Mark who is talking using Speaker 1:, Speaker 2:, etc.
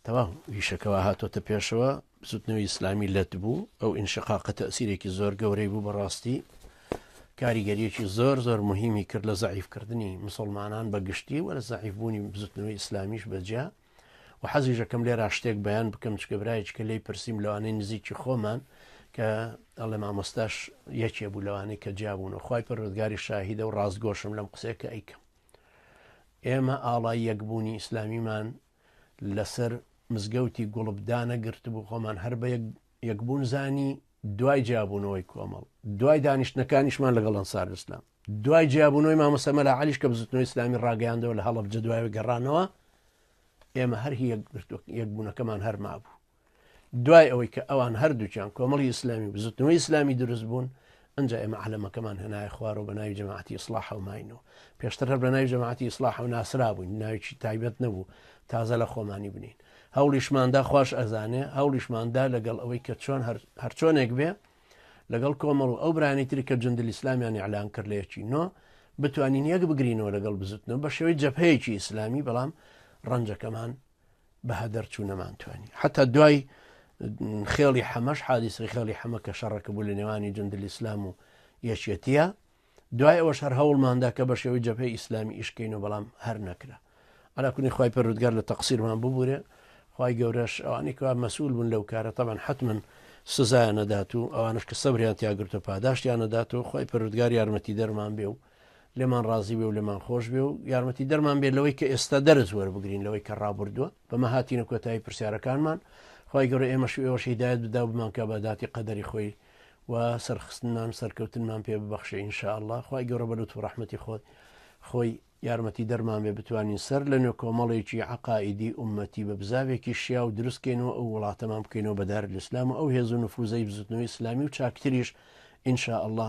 Speaker 1: تەواو ئیشەکە وا هاتۆتە پێشەوە بزوتنەوەی ئیسلامی لەت بوو ئەو ئینشقاقە تەسیرێکی زۆر گەورەی بوو بەڕاستی کاریگەریەکی زۆر زۆر مهمی کرد لە زعیفکردنی مسلمانان بە گشتی وە لە زعیفبوونی بزوتنەوەی ئیسلامیش بەجیا و حەزیژەکەم لێ راشتێک بەیان بکەم چکە برایچکە لی پرسییم لەوانەی نزیکی خۆمان کە ئەڵێ مامۆستاش یەکێ بوو لەوانەی کە جیابوون و خی پەرۆزگاری شاهیدە و ڕاستگۆشم لەم قسێکە ئەیکەم ئێمە ئاڵای یەکبوونی ئیسلامیمان لەسەر مزگەوتی گوڵب دانەگرتبوو خۆمان هەر بە یەکبوون زانی دوای جیابوونەوەی کۆمەڵ دوای دانیشتنەکانیشمان لەگەڵ ئەنسار ئسلام دوای جیابوونەوەی مامەسەمە لە علیش کە بزتنەوەی ئسلامی ڕاگەیاندەوە لە هەڵب جدواوی گەڕانەوە ئێمە هەر یەکگرتوە یەکبوونەکەمان هەرما بوو دوای ئەوەی کە ئەوان هەردووکیان کۆمەڵی ئیسلامی و بزوتنەوەی ئیسلامی دروست بوون ئەنجا ئێمە عەلەمەکەمان هێنایە خوارەوە بە ناوی جەماعەتی ئیسلاح و ماینەوە پێشتر هەر بە ناوی جەماعەتی ئیسلاح و ناسرا بووین ناویی تایبەت نەبوو تازە لە خۆمانی بنین هەوڵیشماندا خوش ئەزانێ هەوڵیشماندا لەگەڵ ئەوەی کە چۆن هەرچۆنێک بێ لەگەڵ کۆمەڵ و ئەو برانی تری کە جندل ئیسلامیان ئەلان کرد لەیەکی نۆ بتوانین یەک بگرینەوە لەگەڵ بزوتنەوە بە شێوەی جەپەیەکی ئیسلامی بەڵام ڕەنجەکەمان بەها دەرچوو نەمانتوانی حتا دوای خێڵی حەمەش حادیسری خێڵی حەمە کە شەڕەکە بوو لە نێوانی جندل ئیسلام و یەکێتیە دوای ئەوە شەر هەوڵماندا کە بە شێوەی جەپەی ئیسلامی ئیشکەین و بەڵام هەر نەکرا ئەلاکونی خی پەرودگار لە تەقسیرمان ببوورێ خی گەورەش ئەوانێکوا مەسول بوون لەو کارە تەمان حتممن سزایە نەدات و ئەوانش کە سەبریان تیاگرتە پاداشتیان نەدات و خی پەرودگار یارمەتی دەرمان بێ و لێمان ڕازی بێ و لێمان خۆش بێ و یارمەتی دەرمان بێت لەوەی کە ئێستا دەرز وەربگرین لەوەی کە ڕابردووە بەمە هاتینە کۆتایی پرسیارەکانمان خی گەورە ئێمەش ئێوەش هیدایەت بدا بمانکە بە داتی قەدەری خۆی و سەرخستنمان سەرکەوتنمان پێ ببەخشە ئینشاءله خی گەورە بە لوت و ڕحمەتی خۆت خۆی یارمەتی دەرمان بێ بتوانین سەر لە نوێ کۆمەڵێکی عقائیدی عومەتی بە بزاوێکی شیا و دروستکەین و ئەو وڵاتەمان بکەینەوە بەدار لەسلام و ئەو هێز و نفوزەی بزوتنەوەی ئسلامی و چاکتریش ئینشاءله